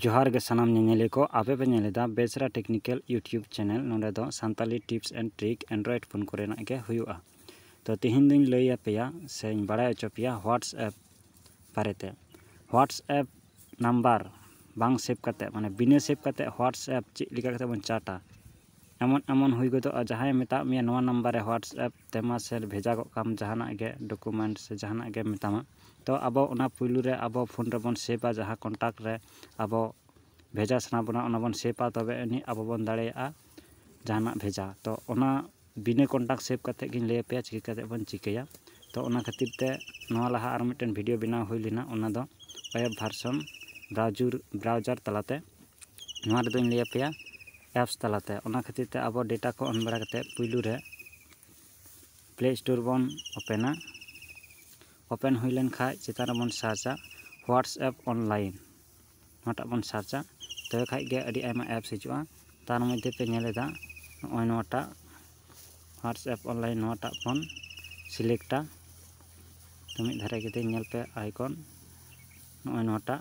ᱡᱚᱦᱟᱨ ᱜᱮ ᱥᱟᱱᱟᱢ ᱧᱮᱧᱮᱞᱤᱭᱟᱹ ᱠᱚ ᱟᱯᱮ ᱯᱮ ᱧᱮᱞ ᱮᱫᱟ ᱵᱮᱥᱨᱟ ᱴᱮᱠᱱᱤᱠᱮᱞ ᱤᱭᱩᱴᱩᱵᱽ ᱪᱮᱱᱮᱞ ᱱᱚᱸᱰᱮ ᱫᱚ Santali tips and trick android phone ᱠᱚᱨᱮᱱᱟᱜ ᱜᱮ ᱦᱩᱭᱩᱜᱼᱟ ᱛᱚ ᱛᱮᱦᱮᱧ ᱫᱚᱧ ᱞᱟᱹᱭ ᱟᱯᱮᱭᱟ ᱥᱮᱧ ᱵᱟᱲᱟᱭ ᱦᱚᱪᱚ ᱯᱮᱭᱟ ᱦᱳᱣᱟᱴᱥᱮᱯ ᱵᱟᱨᱮᱛᱮ ᱦᱳᱣᱟᱴᱥᱮᱯ ᱱᱟᱢᱵᱟᱨ ᱵᱟᱝ ᱥᱮᱵᱷ ᱠᱟᱛᱮᱫ ᱢᱟᱱᱮ ᱵᱤᱱᱟᱹ ᱥᱮᱵᱷ ᱠᱟᱛᱮᱫ ᱦᱳᱣᱟᱴᱥᱮᱯ ᱪᱮᱫ ᱞᱮᱠᱟ ᱠᱟᱛᱮᱫ ᱵᱚᱱ ᱪᱟᱴᱟ ᱮᱢᱚᱱ ᱮᱢᱚᱱ ᱦᱩᱭ ᱜᱚᱫᱚᱜᱼᱟ ᱡᱟᱦᱟᱸᱭ ᱢᱮᱛᱟᱫ ᱢᱮᱭᱟ ᱱᱚᱣᱟ ᱱᱟᱢᱵᱟᱨ ᱨᱮ ᱦᱳᱣᱟᱴᱥᱮᱯ ᱛᱮ ᱢᱟᱥᱮ ᱵᱷᱮᱡᱟ ᱜᱚᱫ ᱠᱟᱜ ᱟᱢ ᱡᱟᱦᱟᱱᱟᱜ ᱜᱮ ᱰᱚᱠᱩᱢᱮᱱᱴ ᱥᱮ ᱡᱟᱦᱟᱱᱟᱜ ᱜᱮ ᱢᱮᱛᱟᱢᱟ ᱛᱚ ᱟᱵᱚ ᱚᱱᱟ ᱯᱳᱭᱞᱳ ᱨᱮ ᱟᱵᱚ ᱯᱷᱳᱱ ᱨᱮᱵᱚᱱ ᱥᱮᱵᱷᱼᱟ ᱡᱟᱦᱟᱸ ᱠᱚᱱᱴᱟᱠᱴ ᱨᱮ ᱟᱵᱚ ᱵᱷᱮᱡᱟ ᱥᱟᱱᱟ ᱵᱚᱱᱟ ᱚᱱᱟ ᱵᱚᱱ ᱥᱮᱵᱷᱼᱟ ᱛᱚᱵᱮ ᱟᱹᱱᱤᱡ ᱟᱵᱚ ᱵᱚᱱ ᱫᱟᱲᱮᱭᱟᱜᱼᱟ ᱡᱟᱦᱟᱱᱟᱜ ᱵᱷᱮᱡᱟ ᱛᱚ ᱚᱱᱟ ᱵᱤᱱᱟᱹ ᱠᱚᱱᱴᱟᱠᱴ ᱥᱮᱵᱷ ᱠᱟᱛᱮᱫ ᱜᱤᱧ ᱞᱟᱹᱭ ᱟᱯᱮᱭᱟ ᱪᱤᱠᱟᱹ ᱠᱟᱛᱮᱫ ᱵᱚᱱ ᱪᱤᱠᱟᱹᱭᱟ ᱛᱚ ᱚᱱᱟ ᱠᱷᱟᱹᱛᱤᱨ ᱛᱮ ᱱᱚᱣᱟ ᱞᱟᱦᱟ ᱟᱨ ᱢᱤᱫᱴᱮᱱ ᱵᱷᱤᱰᱭᱳ ᱵᱮᱱᱟᱣ ᱦᱩᱭ ᱞᱮᱱᱟ ᱚᱱᱟ ᱫᱚ ᱮᱯ ᱵᱷᱟᱨᱥᱚᱱ ᱵᱨᱟᱣᱡᱟᱨ ᱛᱟᱞᱟᱛᱮ ᱱᱚᱣᱟ ᱨᱮᱫᱚᱧ ᱞᱟᱹᱭ ᱟᱯᱮᱭᱟ ᱮᱯᱥ ᱛᱟᱞᱟᱛᱮ ᱚᱱᱟ ᱠᱷᱟᱹᱛᱤᱨ ᱛᱮ ᱟᱵᱚ ᱰᱮᱴᱟ ᱠᱚ ᱚᱱ ᱵᱟᱲᱟ ᱠᱟᱛᱮᱫ ᱯᱩᱭᱞᱩ ᱨᱮ ᱯᱞᱮ ᱥᱴᱳᱨ ᱵᱚᱱ ᱳᱯᱮᱱᱟ ᱳᱯᱮᱱ ᱦᱩᱭ ᱞᱮᱱ ᱠᱷᱟᱡ ᱪᱮᱛᱟᱱ ᱨᱮᱵᱚᱱ ᱥᱟᱨᱪᱟ ᱦᱳᱣᱟᱴᱥᱮᱯ ᱚᱱᱞᱟᱭᱤᱱ ᱱᱚᱣᱟᱴᱟᱜ ᱵᱚᱱ ᱥᱟᱨᱪᱟ ᱛᱚᱵᱮ ᱠᱷᱟᱡ ᱜᱮ ᱟᱹᱰᱤ ᱟᱭᱢᱟ ᱮᱯᱥ ᱦᱤᱡᱩᱜᱼᱟ ᱛᱟᱨ ᱢᱚᱫᱽᱫᱷᱮ ᱯᱮ ᱧᱮᱞ ᱮᱫᱟ ᱱᱚᱜᱼᱚᱭ ᱱᱚᱣᱟᱴᱟᱜ ᱦᱳᱣᱟᱴᱥᱮᱯ ᱚᱱᱞᱟᱭᱤᱱ ᱱᱚᱣᱟᱴᱟᱜ ᱵᱚᱱ ᱥᱤᱞᱮᱠᱴᱟ ᱛᱚ ᱢᱤᱫ ᱫᱷᱟᱨᱮ ᱠᱟᱛᱮᱫ ᱧᱮᱞ ᱯᱮ ᱟᱭᱠᱚᱱ ᱱᱚᱜᱼᱚᱭ ᱱᱚᱣᱟᱴᱟᱜ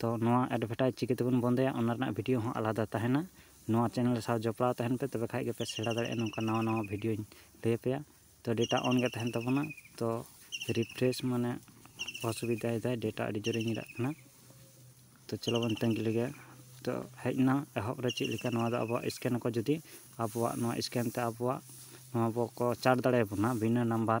ᱛᱚ ᱱᱚᱣᱟ ᱮᱰᱵᱷᱮᱴᱟᱡᱽ ᱪᱤᱠᱟᱹ ᱛᱮᱵᱚᱱ ᱵᱚᱱᱫᱚᱭᱟ ᱚᱱᱟ ᱨᱮᱱᱟᱜ ᱵᱷᱤᱰᱤᱭᱳ ᱦᱚᱸ ᱟᱞᱟᱫᱟ ᱛᱟᱦᱮᱱᱟ ᱱᱚᱣᱟ ᱪᱮᱱᱮᱞ ᱥᱟᱶ ᱡᱚᱯᱲᱟᱣ ᱛᱟᱦᱮᱱ ᱯᱮ ᱛᱚᱵᱮ ᱠᱷᱟᱱ ᱜᱮᱯᱮ ᱥᱮᱬᱟ ᱫᱟᱲᱮᱭᱟᱜᱼᱟ ᱱᱚᱝᱠᱟ ᱱᱟᱣᱟ ᱱᱟᱣᱟ ᱵᱷᱤᱰᱤᱭᱳᱧ ᱞᱟᱹᱭ ᱟᱯᱮᱭᱟ ᱛᱚ ᱰᱮᱴᱟ ᱚᱱ ᱜᱮ ᱛᱟᱦᱮᱱ ᱛᱟᱵᱚᱱᱟ ᱛᱚ ᱨᱤᱯᱷᱨᱮᱥ ᱢᱟᱱᱮ ᱚᱥᱩᱵᱤᱫᱟᱭ ᱫᱟᱭ ᱰᱮᱴᱟ ᱟᱹᱰᱤ ᱡᱳᱨᱮ ᱧᱤᱨᱟᱜ ᱠᱟᱱᱟ ᱛᱚ ᱪᱚᱞᱚ ᱵᱚᱱ ᱛᱟᱺᱜᱤ ᱞᱮᱜᱮ ᱛᱚ ᱦᱮᱡ ᱮᱱᱟ ᱮᱦᱚᱵ ᱨᱮ ᱪᱮᱫ ᱞᱮᱠᱟ ᱱᱚᱣᱟ ᱫᱚ ᱟᱵᱚᱣᱟᱜ ᱥᱠᱮᱱ ᱟᱠᱚ ᱡᱩᱫᱤ ᱟᱵᱚᱣᱟᱜ ᱱᱚᱣᱟ ᱥᱠᱮᱱ ᱛᱮ ᱟᱵᱚᱣᱟᱜ ᱱᱚᱣᱟ ᱵᱚᱠᱚ ᱪᱟᱨᱡᱽ ᱫᱟᱲᱮᱭᱟᱵᱚᱱᱟ ᱵᱤᱱᱟᱹ ᱱᱟᱢᱵᱟᱨ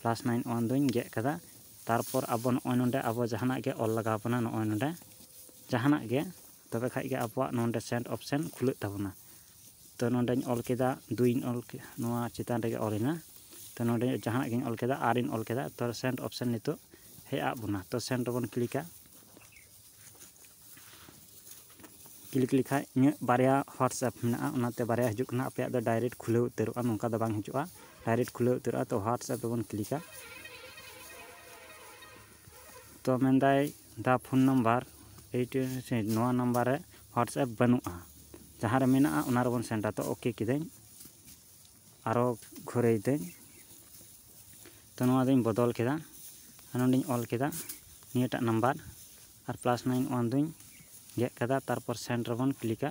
ᱯᱞᱟᱥ ᱱᱟᱭᱤᱱ ᱚᱣᱟᱱ ᱫᱚᱧ ᱜᱮᱫ ᱠᱟᱫᱟ ᱛᱟᱨᱯᱚᱨ ᱟᱵᱚ ᱱᱚᱜᱼᱚᱭ ᱱᱚᱰᱮ ᱟᱵᱚ ᱡᱟᱦᱟᱱᱟᱜ ᱜᱮ ᱚᱞ ᱞᱟᱜᱟᱣ ᱵᱚᱱᱟ ᱱᱚᱜᱼᱚᱭ ᱱᱚᱰᱮ ᱡᱟᱦᱟᱱᱟᱜ ᱜᱮ ᱛᱚᱵᱮ ᱠᱷᱟᱡ ᱜᱮ ᱟᱵᱚᱣᱟᱜ ᱱᱚᱰᱮ ᱥᱮᱱᱰ ᱚᱯᱷᱥᱮᱱ ᱠᱷᱩᱞᱟᱹᱜ ᱛᱟᱵᱚᱱᱟ ᱛᱚ ᱱᱚᱰᱮᱧ ᱚᱞ ᱠᱮᱫᱟ ᱫᱩᱭᱤᱧ ᱚᱞ ᱠᱮᱫᱟ ᱱᱚᱣᱟ ᱪᱮᱛᱟᱱ ᱨᱮᱜᱮ ᱚᱞ ᱮᱱᱟ ᱛᱚ ᱱᱚᱰᱮ ᱡᱟᱦᱟᱱᱟᱜ ᱜᱤᱧ ᱚᱞ ᱠᱮᱫᱟ ᱟᱨᱤᱧ ᱚᱞ ᱠᱮᱫᱟ ᱛᱚ ᱥᱮᱱᱰ ᱚᱯᱷᱥᱮᱱ ᱱᱤᱛᱚᱜ ᱦᱮᱡ ᱟᱫ ᱵᱚᱱᱟ ᱛᱚ ᱥᱮᱱᱰ ᱨᱮᱵᱚᱱ ᱠᱞᱤᱠᱟ ᱠᱞᱤᱠ ᱞᱮᱠᱷᱟᱡ ᱤᱧᱟᱹᱜ ᱵᱟᱨᱭᱟ ᱦᱳᱣᱟᱴᱥᱮᱯ ᱢᱮᱱᱟᱜᱼᱟ ᱚᱱᱟᱛᱮ ᱵᱟᱨᱭᱟ ᱦᱤᱡᱩᱜ ᱠᱟᱱᱟ ᱟᱯᱮᱭᱟᱜ ᱫᱚ ᱰᱟᱭᱨᱮᱠᱴ ᱠᱷᱩᱞᱟᱹᱣ ᱩᱛᱟᱹᱨᱚᱜᱼᱟ ᱱᱚᱝᱠᱟ ᱫᱚ ᱵᱟᱝ ᱦᱤᱡᱩᱜᱼᱟ ᱰᱟᱭᱨᱮᱠᱴ ᱠᱷᱩᱞᱟᱹᱣ ᱩᱛᱟᱹᱨᱚᱜᱼᱟ ᱛᱚ ᱦᱳᱣᱟᱴᱥᱮᱯ ᱫᱚᱵᱚᱱ ᱠᱞᱤᱠᱟ ᱛᱚ ᱢᱮᱱᱫᱟᱭ ᱫᱟ ᱯᱷᱳᱱ ᱱᱟᱢᱵᱟᱨ ᱮᱭᱤᱴ ᱱᱚᱣᱟ ᱱᱟᱢᱵᱟᱨ ᱨᱮ ᱦᱳᱣᱟᱴᱥᱮᱯ ᱵᱟᱹᱱᱩᱜᱼᱟ ᱡᱟᱦᱟᱸ ᱨᱮ ᱢᱮᱱᱟᱜᱼᱟ ᱚᱱᱟ ᱨᱮᱵᱚᱱ ᱥᱮᱱᱰᱟ ᱛᱚ ᱳᱠᱮ ᱠᱤᱫᱟᱹᱧ ᱟᱨᱚ ᱜᱷᱩᱨᱟᱹᱭ ᱫᱟᱹᱧ ᱛᱚ ᱱᱚᱣᱟ ᱫᱚᱧ ᱵᱚᱫᱚᱞ ᱠᱮᱫᱟ ᱟᱨ ᱱᱚᱸᱰᱮᱧ ᱚᱞ ᱠᱮᱫᱟ ᱱᱤᱭᱟᱹᱴᱟᱜ ᱱᱟᱢᱵᱟᱨ ᱟᱨ ᱯᱞᱟᱥ ᱱᱟᱭᱤᱱ ᱚᱣᱟᱱ ᱫᱚᱧ ᱜᱮᱫ ᱠᱟᱫᱟ ᱛᱟᱨᱯᱚᱨ ᱥᱮᱱᱰ ᱨᱮᱵᱚᱱ ᱠᱞᱤᱠᱟ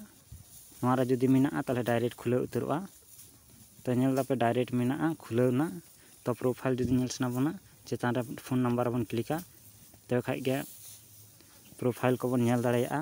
ᱱᱚᱣᱟ ᱨᱮ ᱡᱩᱫᱤ ᱢᱮᱱᱟᱜᱼᱟ ᱛᱟᱦᱚᱞᱮ ᱰᱟᱭᱨᱮᱠᱴ ᱠᱷᱩᱞᱟᱹᱣ ᱩᱛᱟᱹᱨᱚᱜᱼᱟ ᱛᱚ ᱧᱮᱞ ᱫᱟᱯᱮ ᱰᱟᱭᱨᱮᱠᱴ ᱢᱮᱱᱟᱜᱼᱟ ᱠᱷᱩᱞᱟᱹᱣ ᱮᱱᱟ ᱛᱚ ᱯᱨᱚᱯᱷᱟᱭᱤᱞ ᱡᱩᱫᱤ ᱧᱮᱞ ᱥᱟᱱᱟ ᱵᱚᱱᱟ ᱪᱮᱛᱟᱱ ᱨᱮ ᱯᱷᱳᱱ ᱱᱟᱢᱵᱟᱨ ᱨᱮᱵᱚᱱ ᱠᱞᱤᱠᱟ ᱛᱚᱵᱮ ᱠᱷᱟᱱ ᱜᱮ ᱯᱨᱚᱯᱷᱟᱭᱤᱞ ᱠᱚᱵᱚᱱ ᱧᱮᱞ ᱫᱟᱲᱮᱭᱟᱜᱼᱟ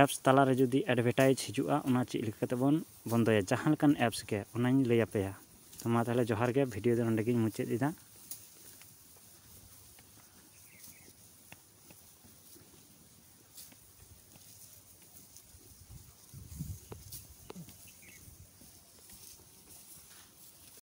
ᱮᱯᱥ ᱛᱟᱞᱟᱨᱮ ᱡᱩᱫᱤ ᱮᱰᱵᱷᱮᱴᱟᱭᱤᱡᱽ ᱦᱤᱡᱩᱜᱼᱟ ᱚᱱᱟ ᱪᱮᱫ ᱞᱮᱠᱟ ᱠᱟᱛᱮᱫ ᱵᱚᱱ ᱵᱚᱱᱫᱚᱭᱟ ᱡᱟᱦᱟᱸ ᱞᱮᱠᱟᱱ ᱮᱯᱥ ᱜᱮ ᱚᱱᱟᱧ ᱞᱟᱹᱭ ᱟᱯᱮᱭᱟ ᱛᱚ ᱢᱟ ᱛᱟᱦᱚᱞᱮ ᱡᱚᱦᱟᱨ ᱜᱮ ᱵᱷᱤᱰᱤᱭᱳ ᱫᱚ ᱱᱚᱸᱰᱮ ᱜᱤᱧ ᱢᱩᱪᱟᱹᱫ ᱮᱫᱟ